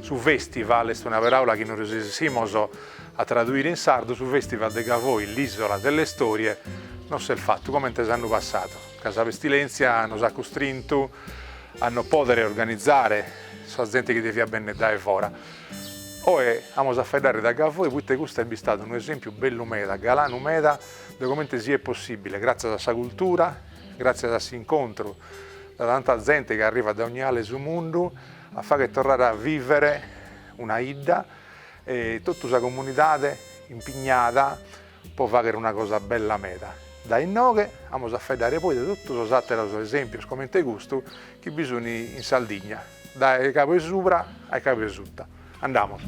Su festival est una peràula chi no reusissimus a traduire in sardu, su festival de Gavoi l'ìsola delle storie no s'est fatu comente s'annu passadu, ca sa pestilèntzia nos at custrintu a no pòdere organizare sa zente chi deviat bènnere dae fora. Oe amus a faeddare de Gavoi poite custu est bistadu unu esèmpiu bellu meda, galanu meda de comente siet possìbile, gràtzias a sa cultura, gràtzias a s'incontru de tanta zente chi arrivat dae ogn'ale 'e su mundu, a fagher torrare a vivere una 'idda e totu sa comunidade impignada pro fagher una cosa bella meda. Dae inoghe amus a faeddare poi de totu sos àteros esèmpios comente custu chi bi sun in Sardigna, dae cabu 'e subra a cabu 'e suta. Andamus.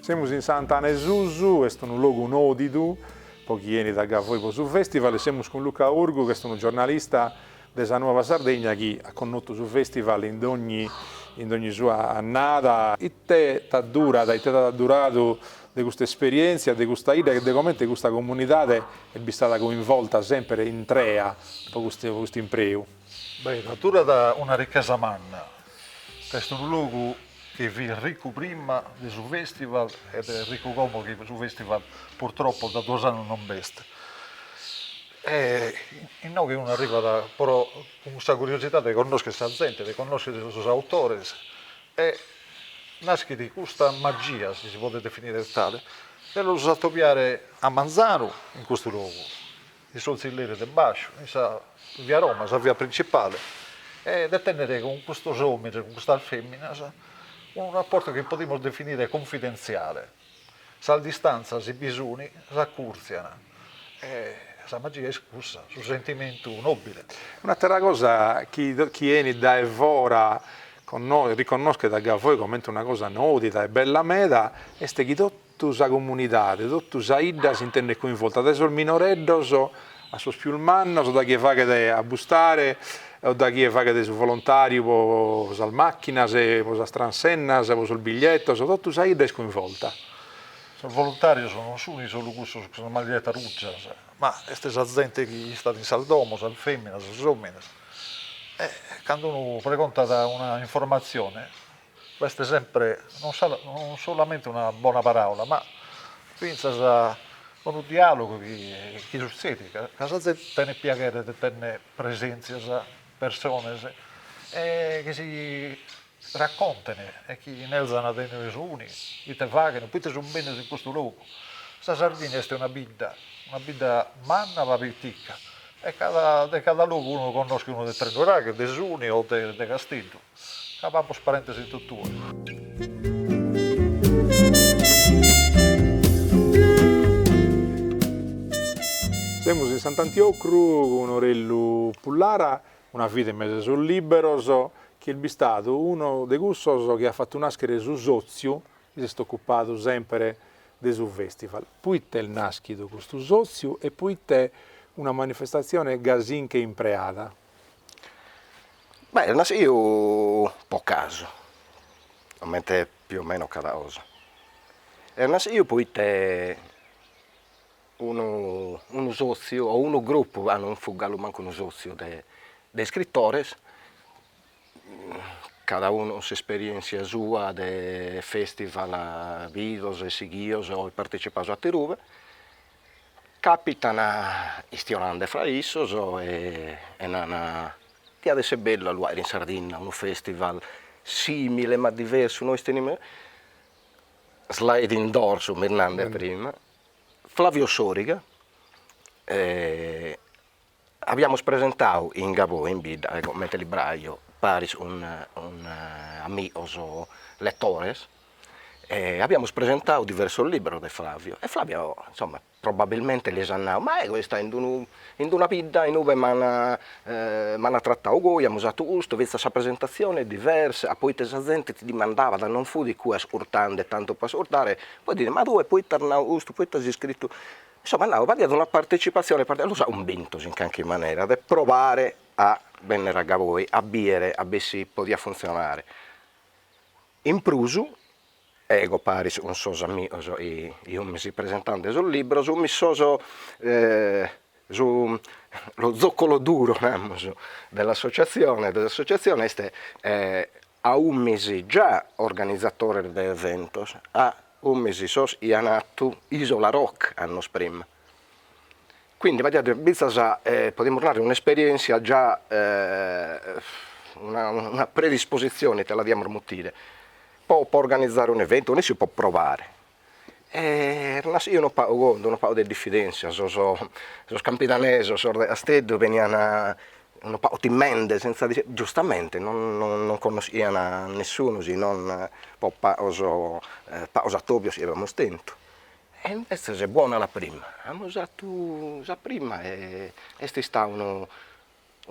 Semus in S'Antana 'e Susu, est unu logu nòdidu po chie 'enit a Gavoi po su festival e semus cun Luca Urgu chi est unu giornalista de sa Nuova Sardegna chi at connotu su festival in dogni in dogni sua annada. Ite t'at duradu, ite t'at adduradu de custa esperièntzia, de custa 'idda e de comente custa comunidade est bistada coinvolta semper intrea po custu po custu impreu? Beh, t'adurat una ricchesa manna. Est unu logu chi fit riccu prima de su festival ed est riccu como chi su festival purtroppo da duos annus non b'est. E inoghe unu arribat pro cun custa curiosidade de connoschere sa zente, de connoschere sos autores e naschet custa magia, si si podet definire tale, de los atopiare a manzanu in custu logu, in sos zilleres de bàsciu, in sa via Roma, sa via principale, e de tenner cun custos omines, cun custas feminas unu rapportu chi podimus definire confidentziale. Sas distantzas si bi sun, s'acùrtzian e sa magia est cussa, su sentimentu nòbile. Un'àtera cosa chie 'enit dae fora riconnòschet a Gavoi comente una cosa nòdida e bella meda est chi totu sa comunidade, totu sa 'idda s'intendet coinvolta, dae sos minoreddos A sos pius mannos, da chie faghet a bustare o da chie faghet su volontàriu pro sas màchinas, pro sas transennas, pro sos biglietos, totu sa 'idda est coinvolta. Sos volontàrios non sunt solu cussos cun sas maglietas rùgias, ma est sa zente chi istat in sas domos, sas fèminas, sos òmines. E cando unu pregontat una informatzione, B'est sempre non solamente una bona paràula, ma fintzas unu diàlogu chi sutzedit ca sa zente tenet piaghere de tènnere presèntzias, persones chi si raconten e chi nerzan de inue sunt, ite faghent, pro ite sunt bennidos in custu logu. Sa Sardigna est una bidda, una bidda manna ma pitica e cada de cada logu unu connoschet unu de Tresnuraghes, de Suni o de Casteddu Ca b'amus parentes in totue. Semus in Sant'Antiocru cun Orellu Pullara, una vida in mesu a sos lìberos, chi est bistadu unu de cussos chi at fatu nàschere su sòtziu chi s'est ocupadu semper de su fèstival. Proite est nàschidu custu sòtziu e proite una manifestatzione gasinche impreada? Beh est nasciu po casu, comente più o meno cada cosa, est nasciu poite unu unu sotziu o unu gruppu, ca non fut galu mancu unu sotziu de de iscrittores, cada unu s'esperienzia sua de festival bidos e sighidos o partecipados atterue Capitan istionande fra issos e nana, diat esser bellu a lu aer in Sardinna unu festival simile ma diversu, nois tenimus, sliding doors umis nande prima, Flavio Soriga Abiamus presentadu in Gavoi in bidda comente libraio paris cun amigos letores e abiamus presentadu diversos libros de Flavio e Flavio insomma probabilmente lis at nadu, ma ego so istau in una bidda inue m'an m'an tratadu goi, amus fatu custu, fintzas sa presentazione est diversa, poite sa zente ti dimandabat, non fut iccue ascurtende tantu po ascurtare, poi ti narat, ma tue poite as nadu custu, poite as iscrittu Insomma nau b'aiat una partecipatzione los at cumbintos in carchi manera de probare a bennere a Gavoi a biere a b'e si podiat funzionare, in prus ego paris cun sos amigos chi umis presentande sos libros umis sos su lo zoccolo duro namus dell'associazzione de s'associazzione est ca umis già organizatores de eventos, ca umis sos chi an atu Isola Rock annos prima, quindi b'aiat fintzas podimus narrer un'esperientzia già una una predisposizione ite la diamus mutire po po organizare un'evento, nessi po probare, e las eo unu pagu cun d'unu pagu de diffidenzia, sos sos campidanesos, sos de Casteddu benian unu pagu timende senza difidenzia, giustamente non non non connoschian a nessunu si non pro pagos e pagos attobios chi aviamus tentu, e invezes buona la prima, amus 'attu sa prima e est istadu unu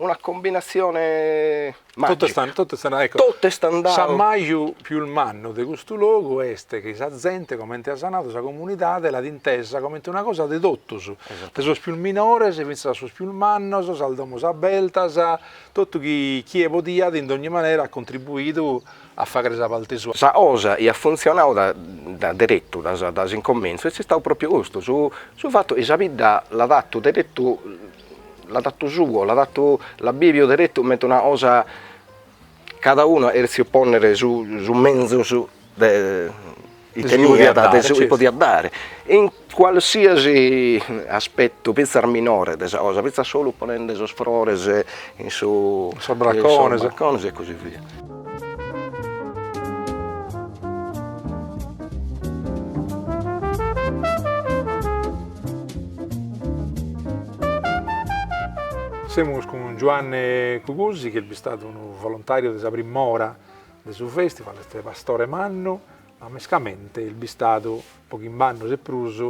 una combinassione magica. Totu est andau, ecco. Totu est andau. S'ammaju pius mannu de custu logu est chi sa zente, comente as nadu, sa comunidade l'at intesa comente una cosa de totus, de sos pius minores fintzas a sos pius mannos, sas domos abertas, totu chie podiat in dogni manera at contribuidu a faghere sa parte sua. Sa cosa chi at funtzionau da deretu, da s'incomentzu, est istau pròpiu custu, su fatu chi sa bidda l'at fatu deretu l'at atu suo, l'at atu, l'at biviu deretu comente una cosa, cada unu at cherziu ponnere su su menzus de chi teniat de su chi podiat dare, in qualsiasi aspettu finzas minore de sa cosa, finzas solu ponende sos frores in su in sos braccones e così via Semus cun Giuanne Cugusi chi est bistadu unu volontàriu de sa prim'ora de su fèstival, est pastore mannu, ma mescamente est bistadu po chimb'annus e prus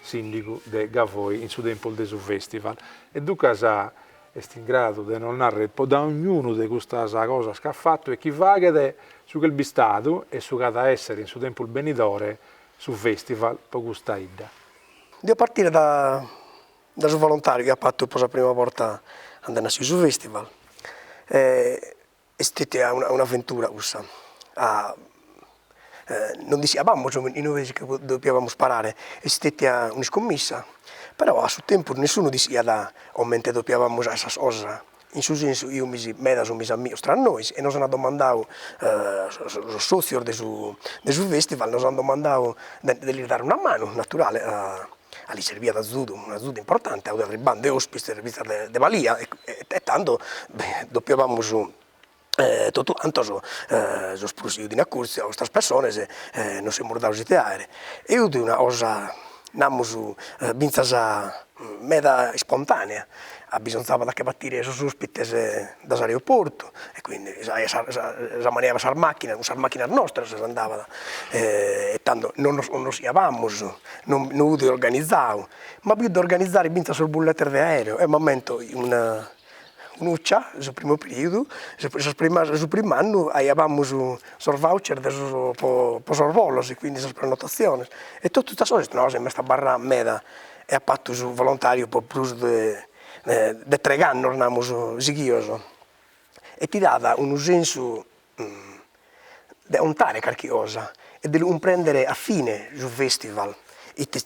sìndigu de Gavoi in su tempus de su fèstival e duncas est in gradu de nos narrer po dognunu de custas cosas ch'at fatu e chi faghet su ch'est bistadu e su ch'at a esser in su tempus benidore su festival po custa 'idda. Dio partire da da su volontariu chi apo fatu po sa prima borta cando est nàssiu su festival e Est istètia un'aventura cussa. Ah! Non dissiabamus in ube si che doppiabamus parare, est istètia un'iscommissa, però a su tempus nessunu dissiat comente doppiabamus faghere sas cosas, in su sensu fumis medas fumis amigos tra nois e nos an domandadu sos sotzios de su de su festival nos an domandadu de de lis dare una manu, naturale a A li serbiat azudu, un'azudu importante, ca fut arribande ospites fintzas de de balia e tando doppiabamus totu cantos seus prosidios in acurtzu a custas pessones e nos semus dados ite 'aer, e fut una cosa namus fintzas meda ispontanea, abbisonzàbat a che batire sos ospites dae s'aeroportu e quindi sa manera de sas macchinas, cun sas macchinas nostras s'andabat e tando non nos connoschiabamus, non fut organizadu, ma bi fut de organizare finzas sos bulletes de aereo eo m'ammento una un'uccia in su primu periodu, sos primas su prim'annu aiabamus sos voucher de sos po po sos volos e quindi sas prenotaziones e totu custas cosas m'est abarrau meda e apo fatu su volontariu po prus de de treigh'annos namus sighios e ti dat unu sensu de 'ontare carchi cosa e de lu cumprendere a fine su festival ite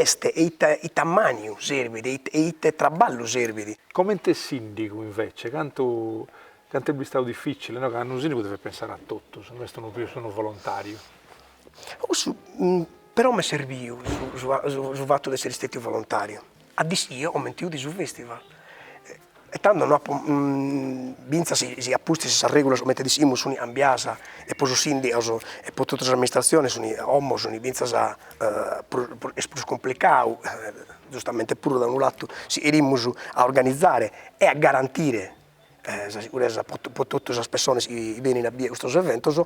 est e ite ammaniu serbit e ite e ite traballu serbit. Comente sindigu invece cantu cantu est bistadu difficile no ca unu sindigu devet pensare a totus no est unu pius unu volontariu. Cussu Però m'est serbiu su fatu de essere istetiu volontariu, ca dischio comente 'udi su festival, e tando no fintzas si a pustis sas regulas comente dischimus sun cambias e po sos sindigos e po totu s'amministraziones sun como sun fintzas est prus cumplicadu giustamente puru da unu latu si 'erimus a organizare e a garantire sa siguresa pro pro totu sas pessones chi benin a bider custos eventos,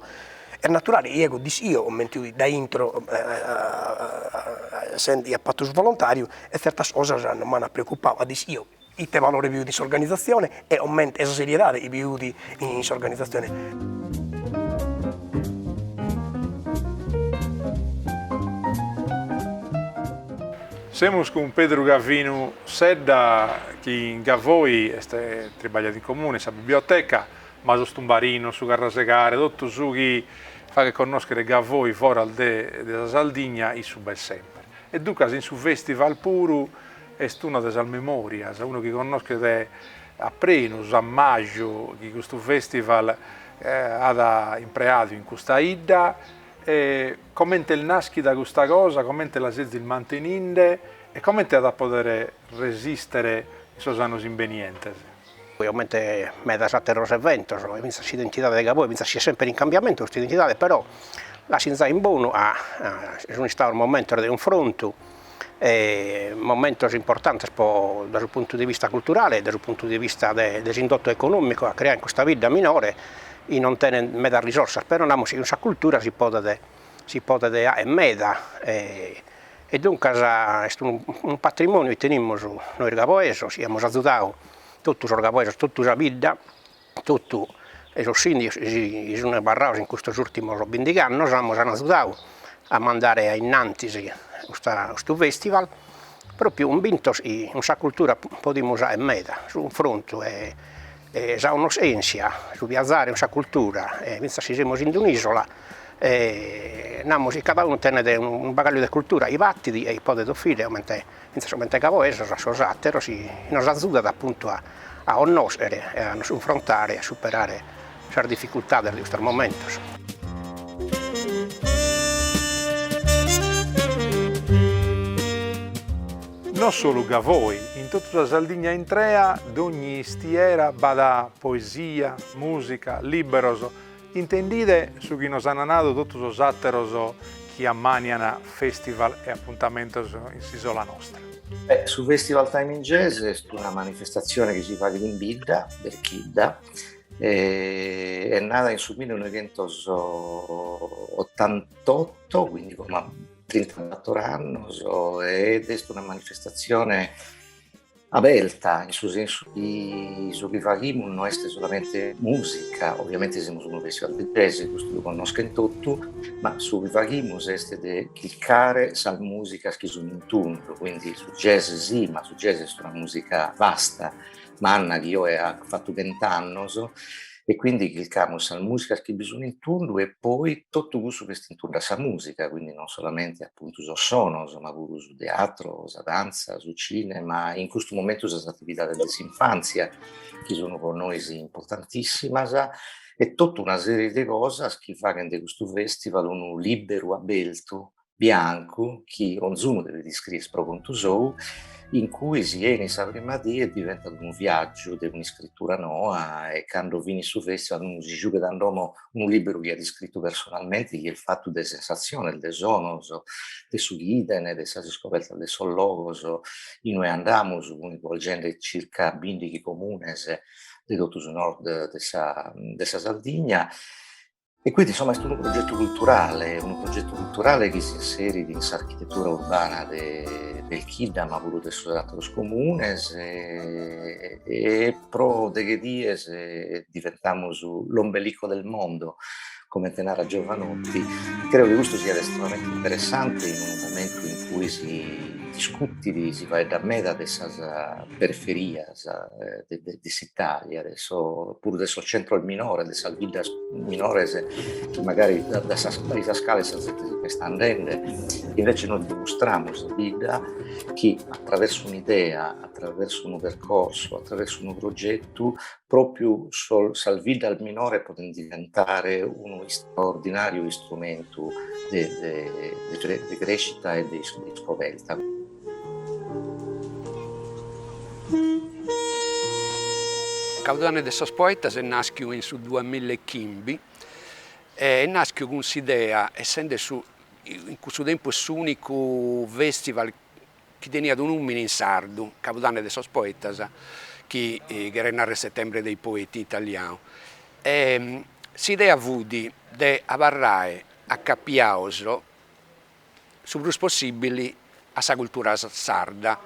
est naturale chi ego dischio comente 'udi dae intro sende chi aia fattu su volontariu e tzertas cosas non m'an preoccupadu, ca dischio ite valore bi fut in s'organizzazione e comente e sa seriedade chi bi fut in s'organizzazione. Semus cun Pedru Gavinu Sedda chi in Gavoi est tribagliat in comune, in sa biblioteca, ma sos tumbarinos, su carrasegare, totu su chi faghet connoschere Gavoi foras de sa Sardigna issu b'est semper. E duncas in su festival puru est una de sas memorias, unu chi connoschet a prenu s'ammaju chi custu festival at impreadu in custa 'idda e, Comente est nàschida custa cosa, comente la sezis manteninde e comente at a podere resìstere in sos annos imbenientes? Comente medas àteros eventos, fintzas s'identidade de Gaboi fintzas si est semper in cambiamentu custa identidade, però l'at sinzà in bonu ca sunt istados momentos de cunfrontu, momentos importantes po dae su puntu de vista culturale e dae su puntu de vista de de s'indotto economico at creau in custa bidda minore, chi non tenet medas risorsas, però namus chi cun sa cultura si podet si podet 'aer meda e e duncas est unu unu patrimoniu chi tenimus nois gaboesos chi amus azudadu totu sos gaboesos totu sa bidda Totu sos sìndigos chi sun istados in custos ùrtimos bindig'annos nos an agiudadu a mandare a innantis custa custu fèstival, pròpiu cunvintos chi cun sa cultura podimus dare meda, su cunfrontu e e sa connoschèntzia, su biazare cun sa cultura e bistu chi semus in un'ìsola e namus chi cada unu tenet unu bagagliu de cultura chi batit e chi podet offrire comente Fintzas comente gavoesos a sos àteros nos azudat apuntu a connòschere e a nos cunfrontare e a superare sas dificultades de custos momentos. No solu Gavoi, in totu sa Sardigna intrea dogni istiera b'at poesia, mùsica, lìberos, Intendide su chi nos an nadu totu sos àteros chi ammànian festival e apuntamentos in s'ìsola nostra. Beh, su Festival Time in Jazz est una manifestatzione chi si faghet in bidda, Berchidda, est nada in su mille noighentos otantotto, quindi como trintabator annos, ed est una manifestatzione aberta in su sensu chi su chi faghimus no est solamente musica, ovviamente semus unu festival de jazz, custu lu connoschent totu, ma su chi faghimus est de chircare sas musicas chi sun in tundu, quindi su jazz si, ma su jazz est una musica vasta, manna chi oe at fatu chent'annos E quindi chircamus sas musicas chi bi sun in tundu e poi totu cussu chi est in tundu a sa musica, quindi non solamente appuntu sos sonos ma puru su teatro, sa danza, su cinema, in custu momentu sas attividades de s'infanzia chi sun po nois importantissimas e totu una serie de cosas chi faghent de custu festival unu liberu abertu biancu chi onzunu devet iscrier pro contu sou, in cui si 'enit sa prima die e diventat unu viaggiu de un'iscritura noa e cando finit su festival unu si giughet a domo unu libberu chi at iscrittu personalmente chi est fattu de sensatziones, de sonos, de su chi 'idene, de sas iscobertas de sos logos in ue andamus coinvolgende circa bindighi comunes de totu su Nord de sa de sa Sardigna E quindi insomma est unu progetu culturale, unu progetu culturale chi s'inserit in s'architetura urbana de Belchidda ma puru de sos ateros comunes e, e pro deghe dies diventamus l'ombelico del mondo, comente narat Jovanotti. Creo chi custu siat estremamente interessante in unu momentu in cui si discutit, si faeddat meda de sas periferias de s'Italia, puru de sos centros minores, de sas biddas minores, magari dae sas cales sa zente si ch'est andende, invece nois dimustramus sa bidda chi attraversu un'idea, attraversu unu percorsu, attraversu unu progetu, propriu sas biddas minores podent diventare unu istraordinàriu istrumentu de crescita e de iscoberta. Cabudanne de sos Poetas est nàschiu in su duas milla e chimbi e est nàschiu cun s'idea, essende su in cussu tempus s'ùnicu festival chi teniat unu nùmene in sardu, Cabudanne de sos Poetas, chi cheret narrer Settembre dei Poeti in italianu, e s'idea fut de abarrare acapiados su prus possibili a sa cultura sarda,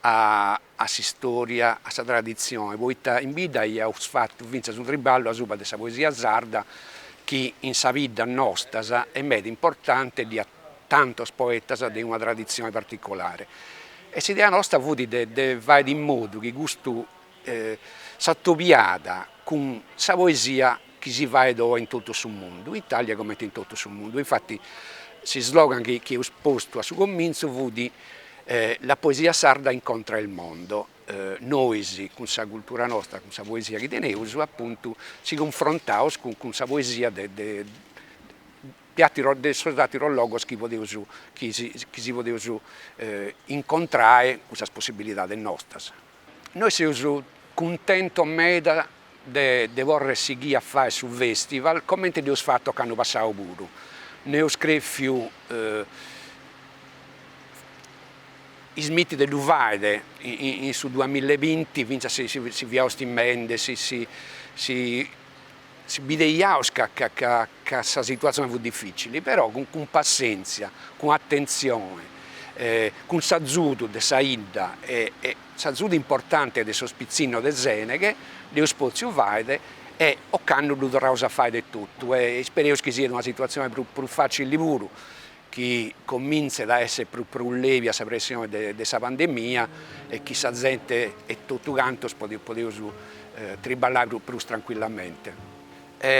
a a s'istòria, a sa traditzione, poita in bidda aiaus fatu fintzas unu triballu asuba de sa poesia sarda chi in sa bidda nosta est meda importante e ddu at tantos poetas de una traditzione particolare e s'idea nosta fut de de fai in modu chi custu s'atobiat cun sa poesia chi si faet oe in totu su mundu, in Itàlia comente in totu su mundu. Infati s'islogan chi chi eus postu a su comintzu fut La poesia sarda incontra il mondo, nois cun sa cultura nostra, cun sa poesia chi teneus apuntu si cunfrontaus cun sa poesia de de de atteros de sos atteros logos chi podeus chi si podeus incontrare cun sas possibilidades nostras Nois seus cuntentos meda de poder sighì a fai su festival comente dd'eus fatu ocannu passau puru. No eus crefiu ismiti de ddu faede in su duamilla e binti fintzas si si fiaus timende, si si bideiaus ca ca ca sa situatzione fut dificili, però cun cun passenzia, cun attenzione, cun s'azudu de sa 'idda e e s'azudu importante de sos pitzinnos de Seneghe, dd'eus potziu faede e ocannu ddu torraus a faede etotu e ispereus chi siet una situatzione prus prus facili puru chi comintzet a essere prus prus levia sa pressione de de sa pandemia e chi sa zente e totu cantos podeus triballai prus prus tranquillamente.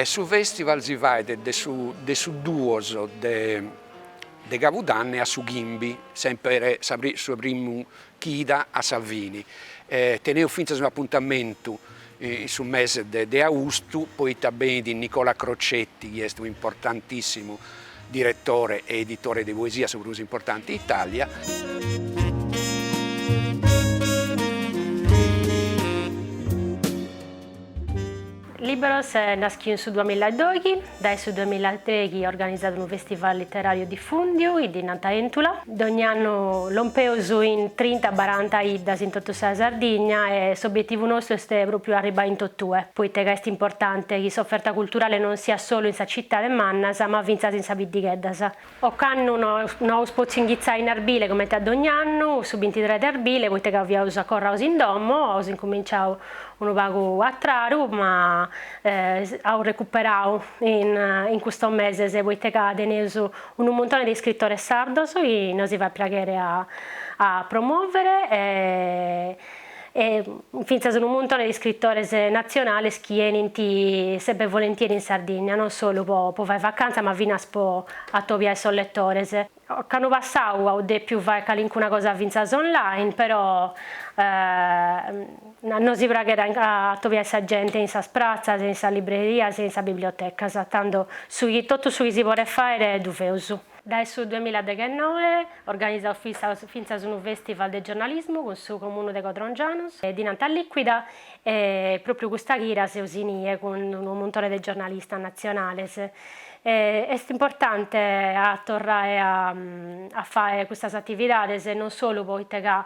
Su festival si fait de su de su duos de de cabudanne a su chimbi, semper sa su 'e primu chida a sa fini, teneus fintzas unu apuntamentu in su mese de de austu, poita benit Nicola Crocetti chi est un'importantissimu Diretore e editore de poesia su prus importante in Italia. Lìberos est naschiu in su duamilla e doghi, dae su duamilla e trighi organizat unu festival litterariu diffundiu chi ddi nant Éntula. Dogn'annu lompeus in trinta baranta iddas in totu sa Sardigna e s'obietivu nostru est pròpriu arribbai in totue, poita ca est importante chi s'oferta culturale non siat solu in sas citades mannas ma fintzas in sas biddigheddas. Ocannu no aus potziu inghitzai in Arbile comente a dogn'annu, su bintitres de Arbile, poita ca fiaus acorraus in domo, aus incuminciau unu pagu a tradu ma aus recuperau in custos meses poita ca teneus Unu muntone de iscritores sardos chi nosi faet praghere a promovere e fintzas unu muntone de iscritores natzionales chi enint sempre volentieri in Sardigna, non solu po fai vacantza ma finas po atobiai sos letores. Ocannu passau aus depiu fai calincuna cosa fintzas online però A nosi praghet a atobiai sa gente in sas pratzas e in sas librerias e in sas bibliotecas, tando su chi totu su chi si podet fàere ddu feus. Dae su duemilla deghennoe organizaus fintzas fintzas unu festival de giornalismu cun su Comunu de Codrongianos e ddi nant Lìquida e pròpriu custa chida seus in ie cun unu muntone de giornalistas natzionales e est importante a torrai a a fai custas atividades non solu poita ca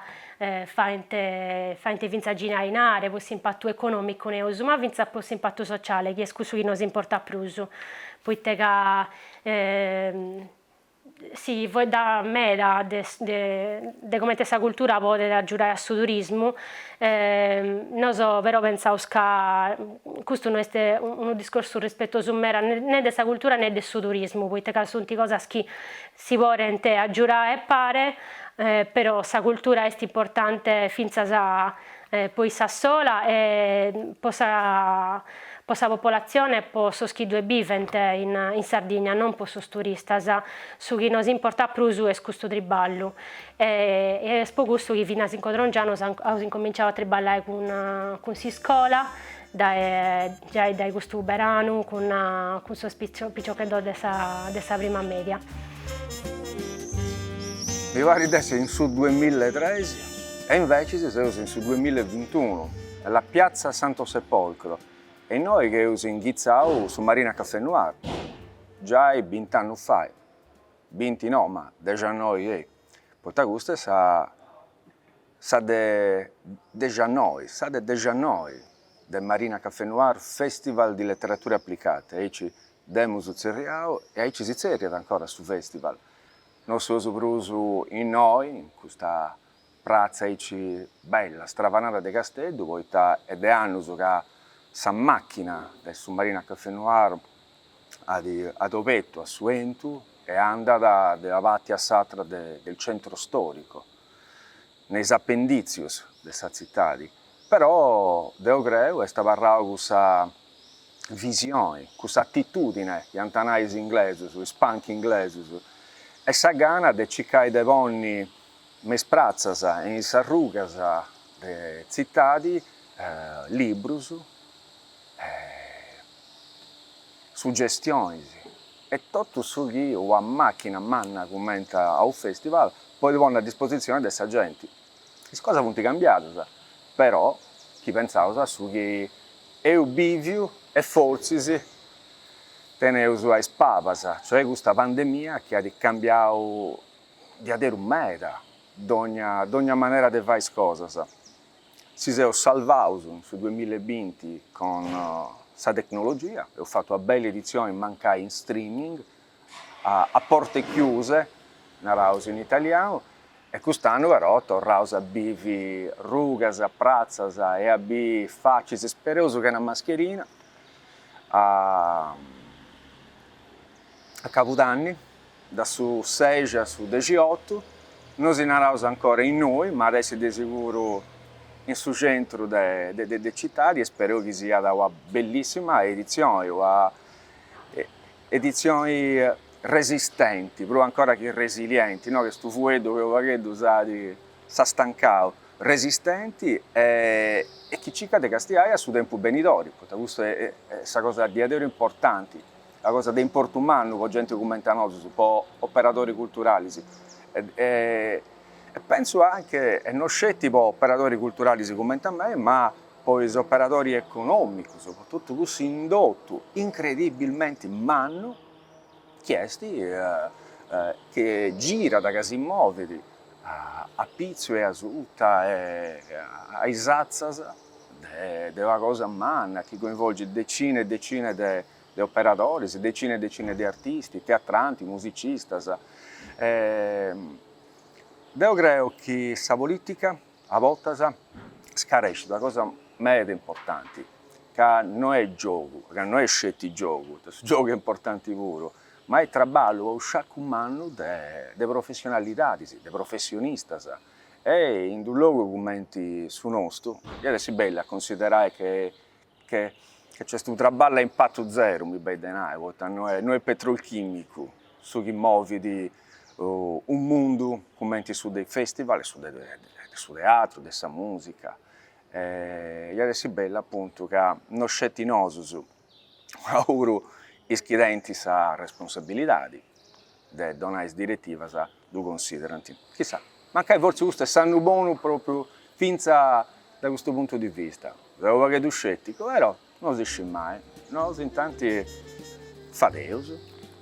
faint faint fintzas girai inare pro s'impatu econòmicu neus, ma fintzas pro s'impatu sociale chi est cussu chi nos importat prus, poita ca si faeddat meda de de comente sa cultura podet agiudai a su turismu, nos però pentzaus ca custu no est unu discorsu rispetosu meda ne de sa cultura ne de su turismu, poita ca sunt cosas chi Si podent agiudare a pare, però sa cultura est importante fintzas po issa sola e po sa po sa popolatzione e po sos chi ddue bivent in in Sardigna, non po sos turistas. Su chi nos importat prus est custu triballu e e est po custu chi finas in Codrongianos aus incominciadu a triballare cun cun s'iscola dae Giai dae custu beranu cun cun sos piciocheddos de sa de sa prima media. Mi parit de essi in su duemilla e tres e invecis seus in su duemilla e bintunu alla piazza Santo Sepolcro est innoi chi eus inghitzau su Marina Café Noir giai bint'annus fai, binti no ma dexannoi e poita custa est sa Sa de dexi a noi, sa de dexi a noi de Marina Café Noir Festival di Letterature Applicate, aici dd'emus tzerriau e aici si tzerriat ancora su festival, no seus prus innoi in custa pratza aici bella, stravanada de Casteddu, poita est de annus ca sa machina de su Marina Café Noir at obertu a su 'entu e andat de una parti a s'atra del centro storico. ne is apendìtzius de sa tzitadi, però deu creu est abarrada cussa visioni, cussa atitùdine iant a nai is inglesus, is punk inglesus, e sa gana de circai de ponni me is pratzas e in is arrugas de tzitadi librus, suggestionis. e totu su chi una màchina manna cumenti a unu fèstival podit ponni a dispositzioni de sa genti. Is cosas funt cambiadas, però, chi pentzaus a su chi eus bìviu e fortzis teneus a is pabas, cioè custa pandemia chi at cambiau diaderus meda dònnia manera de fai is cosas. Si seus salvaus in su duemilla e binti cun sa tecnologia, eus fatu una bella editzioni mancai in streaming, a porte chiuse, naraus in italianu, e cust'annu però torraus a bivi arrugas, pratzas e a biri facis ispereus chena mascherina a cabudanni. de su sexi a su dexiotu, no si naraus ancora innoi, ma at essi de seguru in su centru de citadi e spereu chi siat una bellissima editzioni, una editzioni resistenti, prus ancora chi resilienti, no, custu fueddu chi unu pagheddu s'at, s'at stancau, resistenti e chi circat de castiai a su tempus benidori, poita custa est sa cosa diaderus importanti. una cosa de importu mannu po genti cumenti a nosus, po operadori culturalis e pentzu anche, e no sceti po operadori culturalis cumenti a mei, ma po is operadori economicus, po totu cussu indotu incredibilmenti mannu chi est, chi girat, ca si movit a pitzu e a suta e a is atzas de una cosa manna chi coinvolgit decinas e decinas de de operadoris, decine e decine de artisti, teatranti, musicistas. E deo creo chi sa polìtica a bortas scarescit una cosa meda importanti, ca no est giogu, ca no est sceti giogu, poita su giogu est importanti puru, ma est traballu a sciacu mannu de de professionalidadis, de professionistas. E in d'unu logu cumenti su nostu, iat essi bellu a considerai che ca est unu traballu a impatu zeru, mi benit de nai, poita no est no est petrolchimicu su chi movit unu mundu cumenti su de is festival e su de de su teatru, de sa musica, iat essi bellu apuntu ca no sceti nosus ma puru is chi tenint sa responsabilidadi de donai is diretivas ddu considerant. Chissà, mancai fortzis custu est s'annu bonu pròpriu fintzas dae custu puntu di vista. Seu unu pagheddu scèticu, però no si scit mai. Nosu intanti fadeus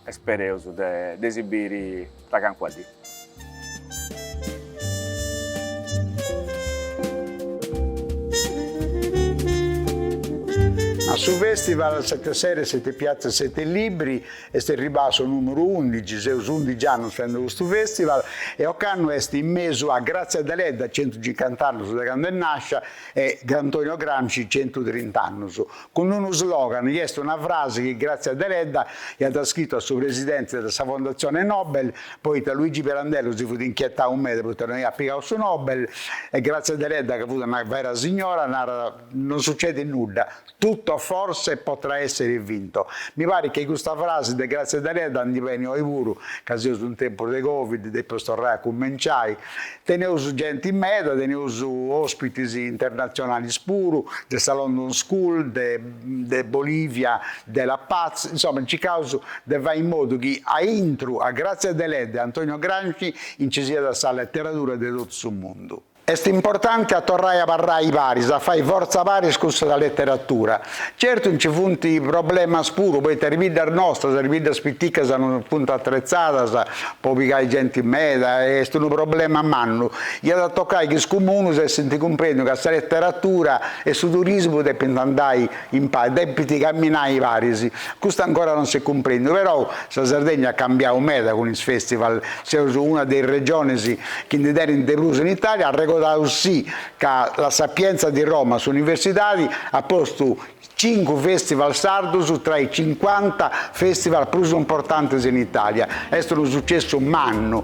e spereus de si biri tra cancuna dì. A su festival Sette Sere, Sette Piazze, Sette Libri Est erribau su nùmeru undici, seus undici annus fendi custu festival e ocannu est in mesu a Grazia Deledda, centucincuant'annus de candu est nàscia, e Antonio Gramsci, centutrint'annus, cun unu slogan chi est una frasi chi Grazia Deledda iat scritu a su presidenti de sa Fondatzione Nobel, poita Luigi Pirandello si fut inchietau meda poita no iat pigau su Nobel, e Grazia Deledda ca fut una vera signora narat, non sucedit nudda. Tutto forse potrà essere vinto. Mi parit chi custa frasi de Grazia Deledda ndi benit oi puru, ca seus in tempus de Covid, depeus torrai a cumenciai. Teneus genti meda, teneus ospitis internatzionalis puru, de sa London School, de de Bolivia, de La Paz, insoma circaus de fai in modu chi a intru a Grazia Deledda e Antonio Gramsci nci siat sa letteradura de totu su mundu. Est importante a torrai a parai paris, a fai fortza paris cun sa leteratura. Certu nci funt problemas puru, poita is biddas nostras, is biddas piticas no funt atretzadas po pigai genti meda, est unu problema mannu. Iat a tocai chi is comunus essint cumprèndiu ca sa leteratura e su turismu depint andai In paris depit camminai paris. Custu ancora non s'est cumprendiu, però sa Sardegna at cambiau meda cun is festival, seus una de is regionis chi ndi tenint de prus in Italia, arregodaus si ca La Sapienza di Roma, s'universidadi, at postu cincu festival sardus tra is cincuanta festival prus importantis in Italia. Est unu sucessu mannu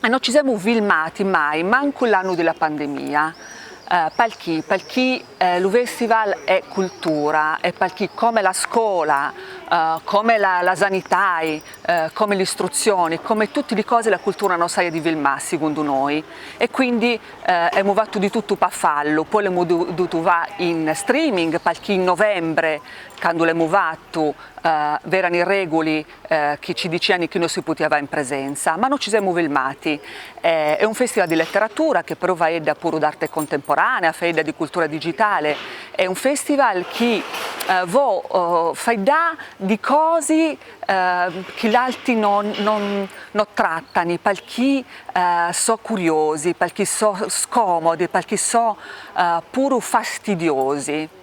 e no ci semu filmati mai mancu l'annu de la pandemia, palchi palchi lu festival è cultura e palchi come la scola, come la sanitai, come l'istruzioni, come tutti li cosi la cultura no s'aia di filmà sigundu noi e quindi emu fattu di tuttu pa fallu, poi l'emu dutu fà in streaming, palchi in novembre candu l'emu fattu v'erani reguli chi ci diciani chi no si putia fà in presenza, ma no ci semu filmati. È un festival di letteratura che però faedda puru d'arte contemporanea, faedda di cultura digitale, è un festival chi vo faiddà di cosi chi l'alti no trattani, palchi so curiosi, palchi so scomodi, palchi so puru fastidiosi.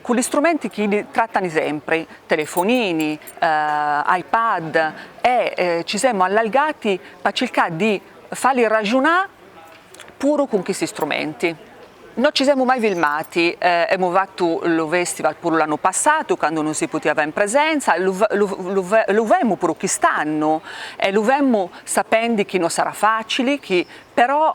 cun li strumenti chi iddi trattani sempri, telefonini, iPad, e ci semu allargati pa circà di falli ragiunà puru cun chisti strumenti. No ci semu mai filmati, emu fattu lu festival puru l'annu passatu candu no si putia fà in presenza, lu femu puru chist'annu e lu femu sapendi chi no sarà facili chi però